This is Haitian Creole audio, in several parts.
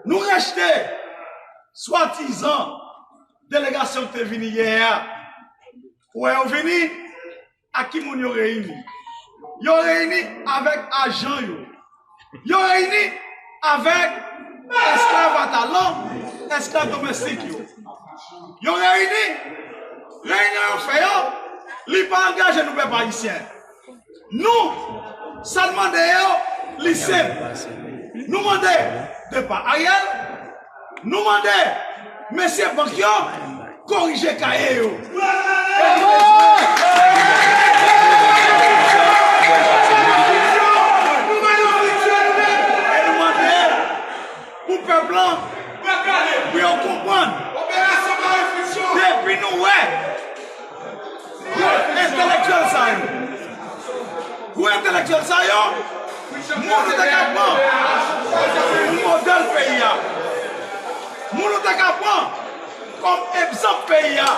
Nou rejte swadizan delegasyon ki te vini yè a. Ou wè yo vini ak ki moun yo reyini? Yo reyini avèk ajan yo. Yo reyini avèk esklav atalan, esklav domestik yo. Yo reyini, reyinyon yo fè yo, li pa angaje nou pèp ayisyen. Nou, sa n mande yo, li senp. Nou mande depa Ariel, nou mande mesye bank yo korije kaye yo. E nou mande pou pèp lan, pou yo konprann, depi nou wè. Gwo entelektyèl sa yo, gwo entelektyèl sa yo, moun ou te ka pran pou modèl peyi a, moun ou te ka pran kòm egzanp peyi a,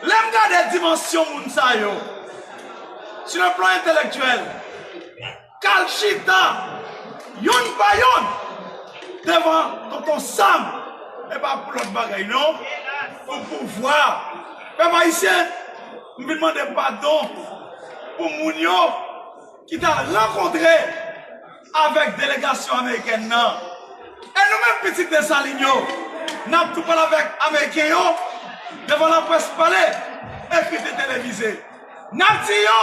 lè m gade dimansyon moun sa yo, sou le plan entelektyèl, K al chita youn pa youn devan Tonton Sam e pa pou lòt bagay non, pou pouvwa. Pèp Ayisyen, m vin mande padon pou moun yo ki t al rankontre avèk delegasyon amerikèn nan. E nou menm pitit Desalin yo, n ap tou pale avèk ameriken yo devan laprès pale, ekri te televize. N ap di yo.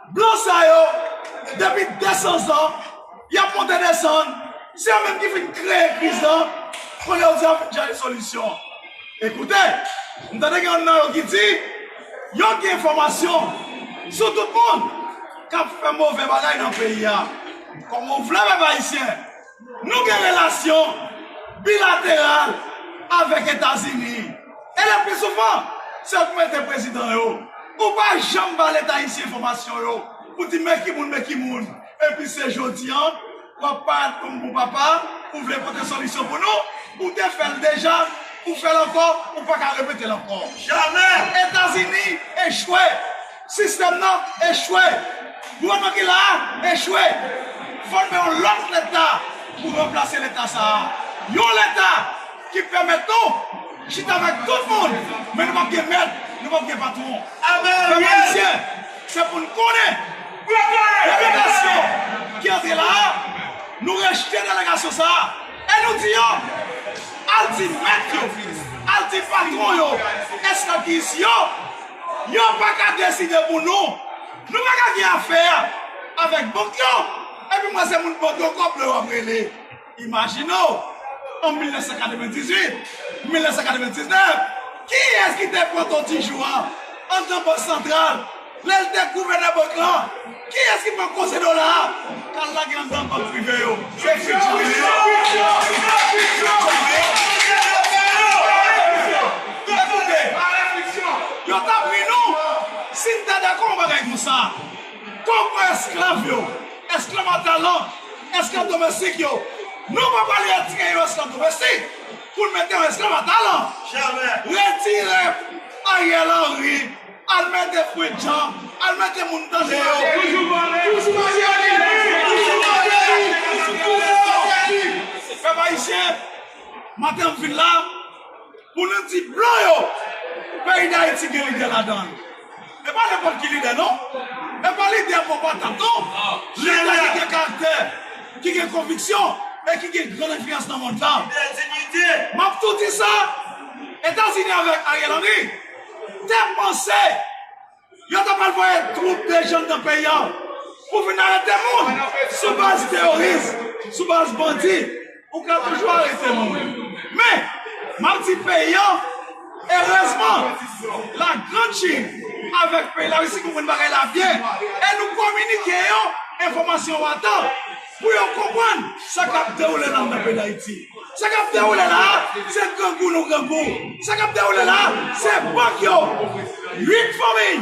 Blan sa yo, depi 200 zan, y ap monte desann, se yo menm ki fin kreye kriz lan, kounye a yo di y ap vin chache solisyon an. E koute, m tande gen youn nan yo ki di, yo gen enfòmasyon sou tout moun k ap fè move bagay nan peyi a. Kòman w vle pèp ayisyen? Nou gen relasyon bilateral avèk Etazini e le pli souvan se yo ki mete prezidan yo. Ou pa janm ba leta ayisyen enfòmasyon yo pou di men ki moun men ki moun epi se jodi an w ap parat kòm bon papa ou vle pote solisyon pou nou. Ou te fè l deja, ou fè l ankò, ou pa ka repete l ankò. Jamè! Etazini echwe! Sistèm nan echwe! Gouvènman ki la a echwe! Fòme yon lòt Leta pou ranplase Leta sa a. Yon Leta ki pèmèt nou chita avèk tout moun, men nou p ap gen mèt, nou p ap gen patwon. Pèp Ayisyen, se pou n konnen, delegasyon ki antre la a, nou rejte delegasyon sa a e nou di yo, al di mèt yo, al di patwon yo, esklav ki isi yo, Yo pa ka deside pou nou. Nou pa ka gen afè avèk bank yo. Epi mwen se moun bank yo kòb mwen yo ap rele. Imajine w, an 1998, 1999, kiyès ki te pran Ton Tijou an andan Bank Santral lè l te gouvènè bank lan? Kiyes ki pran koze dola a kal lage anndan bank prive yo se piti mwen yo ekoute yo tap ri nou si n ta dakò yon bagay konsa kom mwen esklav yo esklav a talan esklav domestik yo nou pa pral retire yon esklav domestik pou n mete yon esklav a talan retire Ariel Henry Al mete frenk jan al mete moun tande yo. Toujou vòlè toujou maleri toujou maleri pou yo yo sèvi pèp ayisyen maten m vin la pou nou di blan yo peyi dayiti gen lidè ladanl e pa nenpòt ki lidè non e pa lidè bon patat non lidè ki gen karaktè ki gen konviksyon e ki gen gran enfliyans nan mond la map tou di sa etazini avèk Ariel Henry. te panse yo ta pral voye twoup de jèn nan peyi an pou vin arete moun sou baz teyoris, sou baz bandi, ou ka toujou arete moun. Men, m ap di peyi an, erezman, la Grand Chine avèk peyi Larisi konprann bagay la byen e nou kominike yo enfòmasyon an atan pou yo konprann sa k ap dewoule nan peyi Dayiti. Sa kap dewoule la a se grangou nou grangou, sa kap dewoule la a se bank yo, 8 fanmiy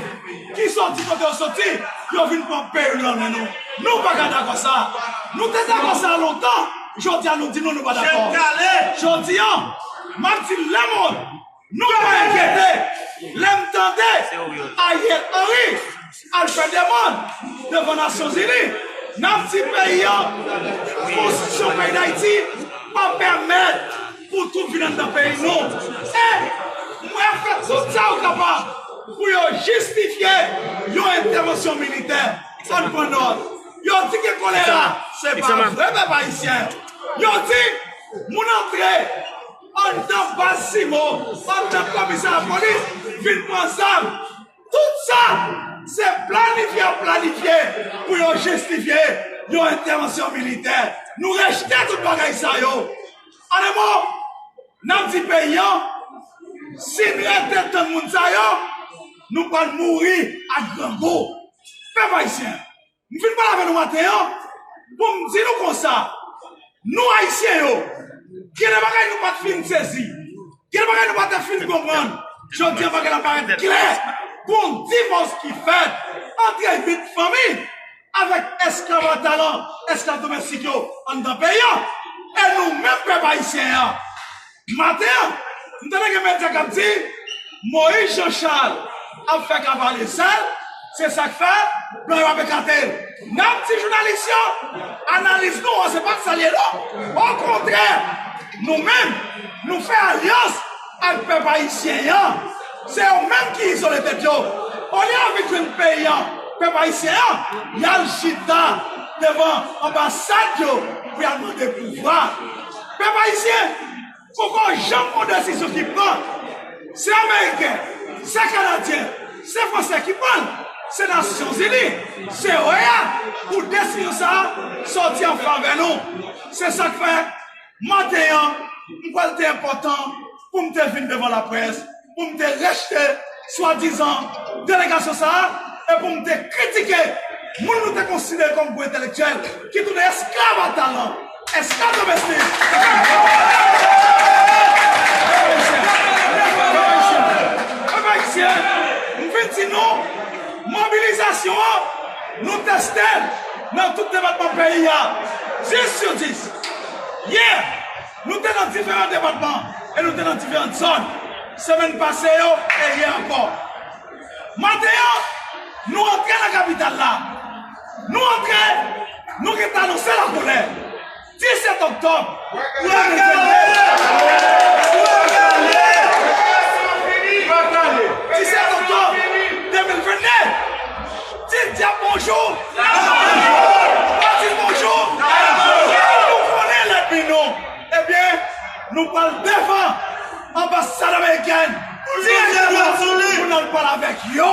ki soti kote yo soti yo vin pran peyi nou nan men nou, nou pa ka dakò sa, nou te dakò sa lontan, jodi a nou di nou nou pa dakò, jodi an map di lemond. Nou pa enkyete lè m tande Ariel Henry al fè demand devan Nasyon Zini n ap di peyi an konstitisyon peyi Dayiti pa pèmèt pou twoup vin anndan peyi nou e mwen ap fè tout sa yo kapab pou yo jistifye yon entèvansyon militè an n pran nòt yo di gen kolera se pa vre pèp Ayisyen yo di moun antre. Andan baz Simon antan komisè lapolis vin pran zam. Tout sa se planifye yo planifye pou yo jistifye yon entèvansyon militè. Nou rejte tout bagay sa yo. An e mo, n ap di peyi an, si n rete tann moun sa yo, nou pral mouri ak grangou. Pèp ayisyen! M vin pale avè nou maten an pou m di nou konsa, nou Ayisyen yo, gen de bagay nou pa t fin sezi, gen de bagay nou pa te fin konprann, jodi an bagay la parèt klè, gon divòs ki fèt antre 8 fanmi avèk esklav a talan, esklav domestik yo anndan peyi an, e nou menm pèp Ayisyen an. Maten an, m tande gen medya k ap di Moïse Jean Charles ap fè kavale sal, se sa k fè blan yo ap ekate l. N ap di jounalis yo, analiz nou an se pa sa l ye non. Okontrè, nou menm, nou fè alyans ak pèp ayisyen an. Se yo menm ki izole tèt yo. Olye yo vin jwenn peyi an, pèp ayisyen an, y al chita devan anbasad yo pou y al mande pouvwa. Pèp ayisyen poko janm gon desizyon ki pran, se ameriken, se kanadyen, se fransè ki pranl, se nasyon zini, se oea pou desizyon sa sòti an favè nou, se sak fè maten an m kwèl te enpòtan. pou m te vin devan laprès pou m te rejte swadizan delegasyon sa a e pou m te kritike moun nou te konsidere kòm gwo entelektyèl ki tounen esklav a talan, esklav domestik Pèp Ayisyen, m vin di nou, mobilizasyon an, nou teste l nan tout depatman peyi a, 10 sou 10. Yè! Nou te nan diferan depatman e nou te nan diferant zòn semèn pase yo e yè ankò. Maten an, nou antre nan kapital la. Nou antre, nou gen pou anonse lakolè. 17 oktòb 2022. Ti dyab bonjou! Martine bonjou! Nou konnen lènmi nou! Ebyen, nou pral devan anbasad amerikèn dirèkteman pou n al pale avèk yo,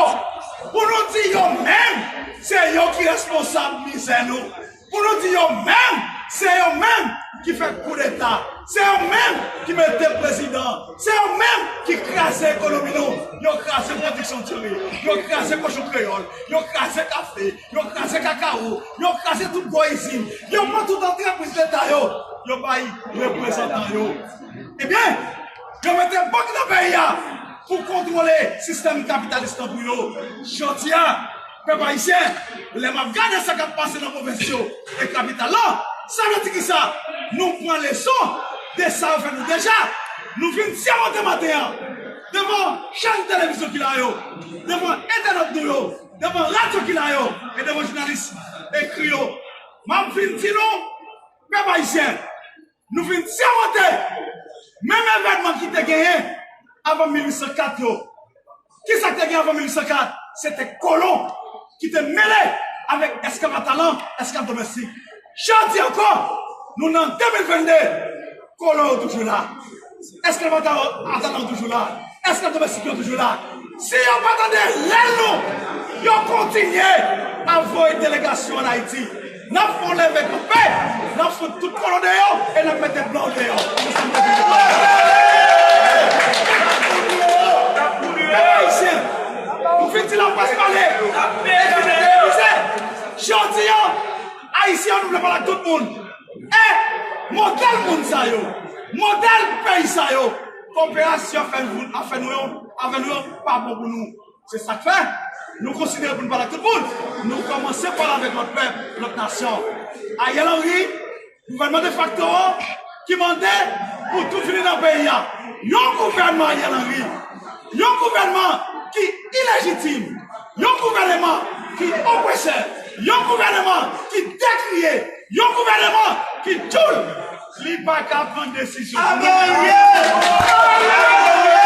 pou nou di yo menm se yo ki responsab mizè nou. Pou nou di yo menm, se yo menm ki fè koudeta, se yo menm ki mete prezidan, se yo menm ki kraze ekonomi nou, yo kraze pwodiksyon diri, yo kraze kochon kreyòl, yo kraze kafe, yo kraze kakawo, yo kraze tout gwo izin, yo pran tout antrepriz leta yo, yo bay reprezantan yo. Ebyen, yo mete bank nan peyi a pou kontwole sistèm kapitalis lan pou yo. Jodi a. Pèp Ayisyen, lè m ap gade sa k ap pase nan pwovens yo e kapital la, sa vle di ki sa? Nou pran leson de sa yo fè nou deja. Nou vin sèmante maten an, devan chèn televizyon ki la yo, devan entènèt nou yo, devan radyo ki la yo e devan jounalis ekri yo, m ap vin di nou, Pèp Ayisyen, Nou vin sèmante menm evènman ki te genyen avan 1804 yo. Ki sa k te gen avan 1804? Se te kolon ki te mele avèk esklav a talan, esklav domèstik. Jodi ankò, nou nan 2022, kolon yo toujou la. Eske mantal atant lan toujou la? Eske domestik yo toujou la? Si yo pa tande rèl nou, yo kontinye ap voye delegasyon an Ayiti. N ap fè yon leve kanpe, n ap fout tout kòlon deyò e n ap mete blan yo deyò. Se sa m te vin di. Pèp Ayisyen, nou fin di laprès pale e di nou te epuize. Jodi an, Ayisyen yo nou vle pale ak tout moun. E modèl moun sa yo, modèl peyi sa yo, koperasyon ap fè nou yo, avè nou yo pa bon pou nou. Se sa k fè, nou konsidere pou nou pale ak tout moun, nou kòmanse pale avèk lòt pèp, lòt nasyon. Ariel Henry, gouvènman defakto an ki mande pou tout vini nan peyi a. Yon gouvènman Ariel Henry, yon gouvènman ki ilejitim. Yon gouvèneman ki opresè, yon gouvèneman ki dekriye, yon gouvèneman ki tchoul. Li pa ka pran desizyon pou nou.